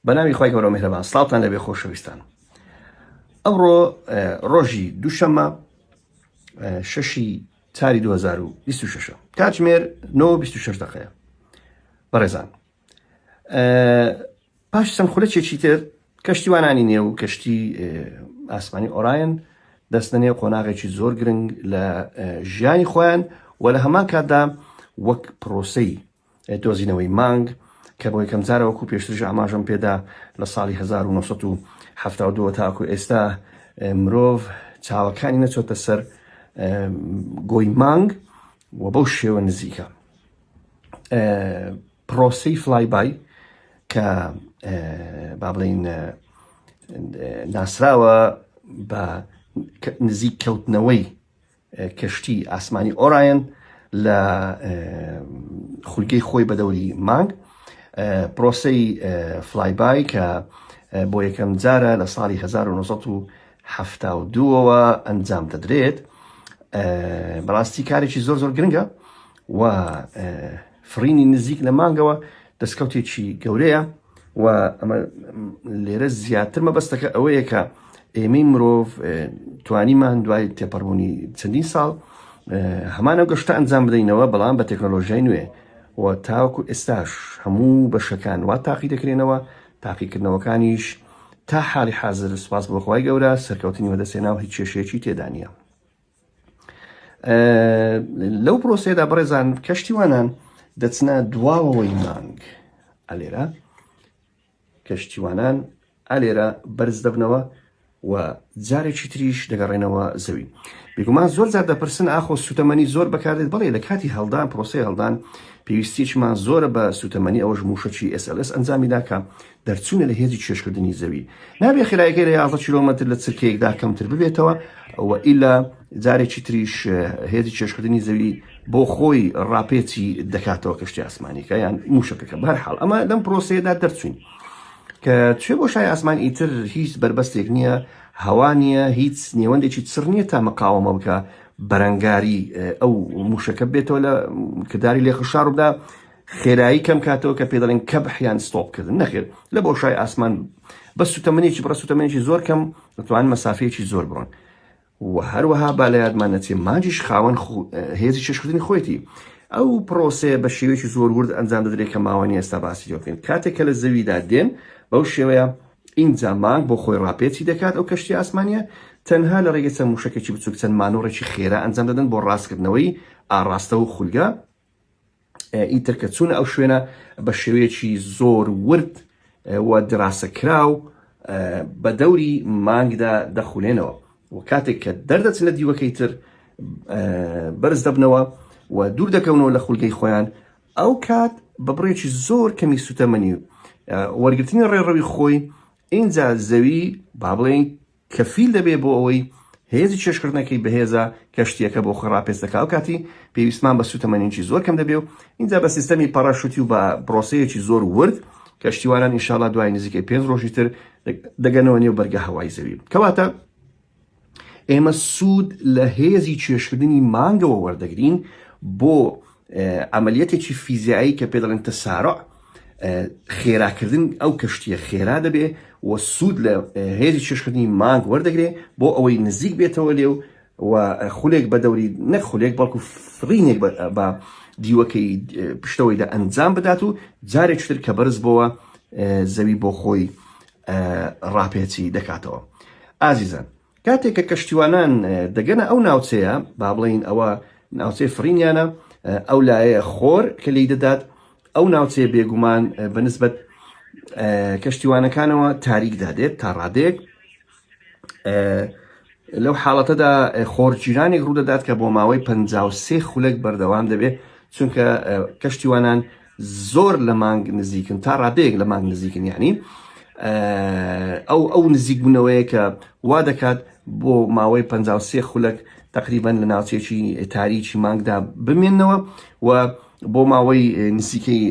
بەناوی خوای گەورە میهرەبان سڵاوتان لەبێ خۆشەویستان ئەوڕۆ ڕۆژی دووشەمە شەشی چاری 2026 کاتژمێر 926 دقەیە بەڕێزان پاش چەند خولەکێکی تر کەشتیوانانی نێو و کەشتی ئاسمانی ئۆراین دەستە نێو قۆناغێکی زۆر گرنگ لە ژیانی خۆیان و لە هەمان کاتدا وەک پرۆسی دۆزینەوەی مانگ، کە بۆ یەکەم جارە وەکوو پێشتریش ئاماژەم پێ دا لە ساڵی هەزار و نۆ سەد و حەفتا و دوو وە تاوەکوو ئێستا مرۆڤ چاوەکانی نەچۆتە سەر گۆی مانگ و بەو شێوە نزیکە پرۆسی فلای بای کە با بڵین ناسراوە بە نزیک کەوتنەوەی کەشتی ئاسمانی ئۆرایەن لە خولگەی خۆی بەدەوری مانگ پرۆسەی فلایبای کە بۆ یەکەم جارە لە ساڵی 1970ەوە ئەنجام دەدرێت بەڕاستی کارێکی زۆر زۆر گرنگە و فڕینی نزیک لە مانگەوە دەستکەوتێکی گەورەیە و ئەمە لێرە زیاتر مەبەستەکە ئەوەیە کە ئێمەی مرۆڤ توانیمان دوای تێپەڕبوونی چەندین ساڵ هەمانە گەشتە ئەنجام بدەینەوە بەڵام بە تەکنۆلۆژیای نوێ و تاوەکو ئێستاش هەموو بەشەکان وا تاقی دەکرێنەوە تاقیکردنەوەکانیش تا حاڵی حاضر سپاس بۆخوای گەورە سەرکەوتنی وەدەسێنا و هیچ کێشەیەکی تێدانە لەو پرۆسەیەدا بەڕێزان کەشتیوانان دەچنە دواوەوەی مانگ ئەلێرە کەشتیوانان ئەلێرە بەرز دەبنەوە و جارێکی تریش دەگەڕێنەوە زەوی بێگومان زۆر زار دەپرسن ئاخۆ سوتەمەنی زۆر بەکاردێت بڵێ لە کاتی هەڵدان پرۆسی هەڵدان پێویستیشمان زۆرە بە سوتەمەنی ئەوەش موشەکی SLS ئەنجامی داکە دەرچوونە لە هێزی کێشکردنی زەوی نابێ خێرایەکەی لە 11 کیلۆمەتر لە چرکەیەکدا کەمتر ببێتەوە و ئیلا جارێکی تریش هێزی کێشکردنی زەوی بۆ خۆی ڕاپێچی دەکاتەوە کەشتی ئاسمانیکە یان موشەکەکە بەرحاڵ ئەمە لەم پرۆسەیەدا دەرچوین کە توێ بۆ شای ئاسمان ئیتر هیچ بربەستێک نییە هەوا نییە هیچ نێوەندێکی چڕ نییە تا مقاومە بکە بەرەنگاری ئەو موشەکە بێتەوە لە کردداری لێخشاردا خێرایی کەم کاتەوە کە پێ دەڵێن کەبح یان ستۆپ کردن نەخێر لە بۆشای ئاسمان بە سوتەمەنێکی بڕە سوتەمەنێکی زۆر کەم دەتوان مەسافەیەکی زۆر بڕۆن و هەروەها با لە یادمان نەچێ مانجیش خاوەن هێزی چێشکردنی خۆیەتی ئەو پرۆسێ بە شێوەیەکی زۆر ورد ئەنجام دەدرێت کە ماوەنی ئێستا باسی لێکەین کاتێک کە لە زەویدا دێن بەو شێوەیە ئینجا مانگ بۆ خۆی ڕاپێچی دەکات ئەو کەشتی ئاسمانە تەنها لە ڕێگە چەند موشەکەی بچوک چەند مانۆڕێکی خێرا ئەنجام دەدەن بۆ ڕاستکردنەوەی ئاڕاستە و خولگە ئیتر کە چوونە ئەو شوێنە بە شێوەیەکی زۆر ورد و دراسە کراو بە دەوری مانگدا دەخولێنەوە و کاتێک کە دەردەچ لە دیوەکەی تر بەرز دەبنەوە و دوور دەکەونەوە لە خولگەی خۆیان ئەو کات بە بڕێکی زۆر کەمی سوتەمەنی و وەرگرتنی ڕێڕەوی خۆی اینجا زەوی با بڵێن کەفیل دەبێت بۆ ئەوەی هێزی کێشکردنەکەی بەهێزە کەشتیەکە بۆ خۆی ڕاپێچ دەکا ئەوکاتی پێویستمان بە سوتەمەنیی زۆر کەم دەبێ و ئینجا بە سیستەمی پەڕەشوتی و بە پرۆسەیەکی زۆر ورد کەشتیوانان ئینشاڵا دوای نزیکەی پێنج ڕۆژی تر دەگەنەوە نێو بەرگە هەوای زەوی کەواتە ئێمە سوود لە هێزی کێشکردنی مانگەوە وەردەگرین بۆ عەمەلیەتێکی فیزیایی کە پێ دەڵێن تسارع خێراکردن ئەو کەشتیە خێرا دەبێ و سوود لە هێزی چێشکردنی مانگ وەردەگرێ بۆ ئەوەی نزیک بێتەوە لێ و و خولێک بە دەوری نەک خولێک بەڵکو فرینێک بە دیوەکەی پشتەوەیدا ئەنجام بدات و جارێک تر کە بەرز بۆوە زەوی بۆ خۆی ڕاپێچی دەکاتەوە ئازیزان کاتێک کە کەشتیوانان دەگەنە ئەو ناوچەیە، با بڵێین ئەوە ناوچەی فڕینیانە، ئەو لایەیە خۆر کە لێی دەدات، ئەو ناوچەیە بێگومان بە نسبەت کەشتیوانەکانەوە تاریک دادێت تا ڕادەیەک لەو حاڵەتەدا خۆرگیرانێک ڕوودەدات کە بۆ ماوەی پ سێ خولەک بەردەوام دەبێت چونکە کەشتیوانان زۆر لە مانگ نزیکن تا ڕادەیەک لە مانگ نزیکن یعنی ئەو ئەو نزیک بوونەوەیە کە وا دەکات بۆ ماوەی 53 خولک تقریبان لە ناوچێکی تاریکی مانگدا بمێنەوە و بۆ ماوەی نزیکەی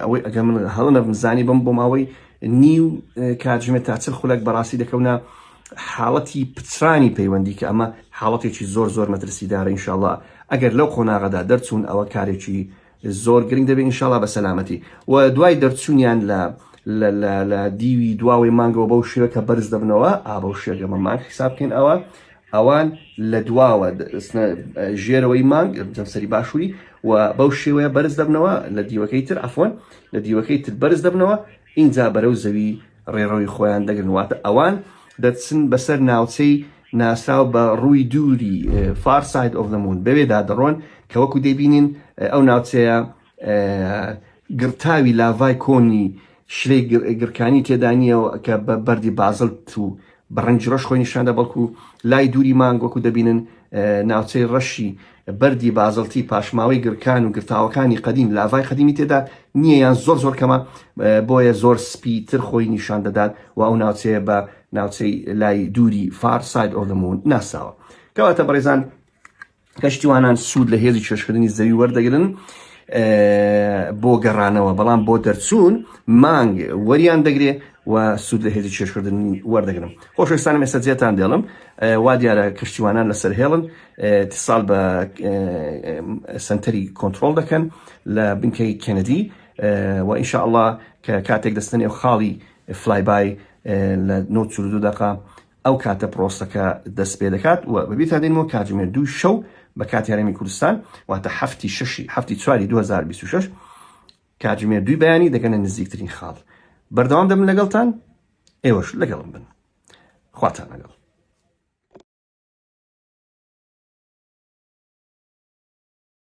ئەوەی ئەگەر من هەڵە نەبمزانی بم بۆ ماوەی نیو کاتژمێ تا چل خولک بەڕاستی دەکەونە حاڵەتی پچرانی پەیوەندی کە ئەمە حاڵەتێکی زۆر زۆر مەترسیدارە ئینشاءله ئەگەر لەو قۆناغەدا دەرچوون ئەوە کارێکی زۆر گرنگ دەبێت انشااللە بە سەلامەتی و دوای دەرچوونیان لە لە دیوی دواوەی مانگەوە بەو شێوە کە بەرز دەبنەوە ئابەو شێگەمە مانگ حساب بکەین ئەوە ئەوان لە دواوە ژێرەوەی مانگ جەمسەری باشووری و بەو شێوەیە بەرز دەبنەوە لە دیوەکەی تر ئەفۆن لە دیوەکەی تر بەرز دەبنەوە ئینجا بەرەو زەوی ڕێڕەوی خۆیان دەگرن واتە ئەوان دەچن بەسەر ناوچەی ناسراو بە ڕووی دووری فار ساید ئۆف دەمون بەوێدا دەڕۆن کە وەکو دەبینین ئەو ناوچەیە گرتاوی لاڤای کۆنی شلەی گرکانی تێدانیەوە کە بە بەردی بازلت و بە ڕەنگی ڕەش خۆی نیشاندا بەڵکو لای دووری مانگ وەکو دەبینن ناوچەی ڕەشی بەردی بازڵتی پاشماوەی گرکان و گرتاوەکانی قەدیم لاڤای قەدیمی تێدا نییە یان زۆر زۆر کەمە بۆیە زۆر سپی تر خۆی نیشان دەدات و ئەو ناوچەیە بە ناوچەی لای دووری فارساید ئۆلمون ناساوە کەواتە بەڕێزان کەشتیوانان سوود لە هێزی چێشکردنی زەوی وەردەگرن بۆ گەڕانەوە بەڵام بۆ دەرچوون مانگ وەریان دەگرێ و سوود لە هێزی چێشکردن وەردەگرم خۆشستان مێسە جێتان دێڵم وا دیارە کەشتیوانان لەسەر هێڵن تیساڵ بە سنتەری کۆنتترۆل دەکەن لە بنکەی کەنەدی و ئینشاء الله کە کاتێک دەستنێ و خاڵی فلایبای لە 92 دقا ئەو کاتە پرۆسەکە دەست پێ دەکات و بە بیرتان دێنمەوە کاتژمێر دووی شەو بە کاتی هەرێمی کوردستان واتە هەفتی شەشی هەفتی چواری 2026 کاتژمێر دووی بەیانی دەگەنە نزیکترین خاڵ بەردەوام دەبن لەگەڵتان ئێوەش لەگەڵم بن خواتان لەگەڵ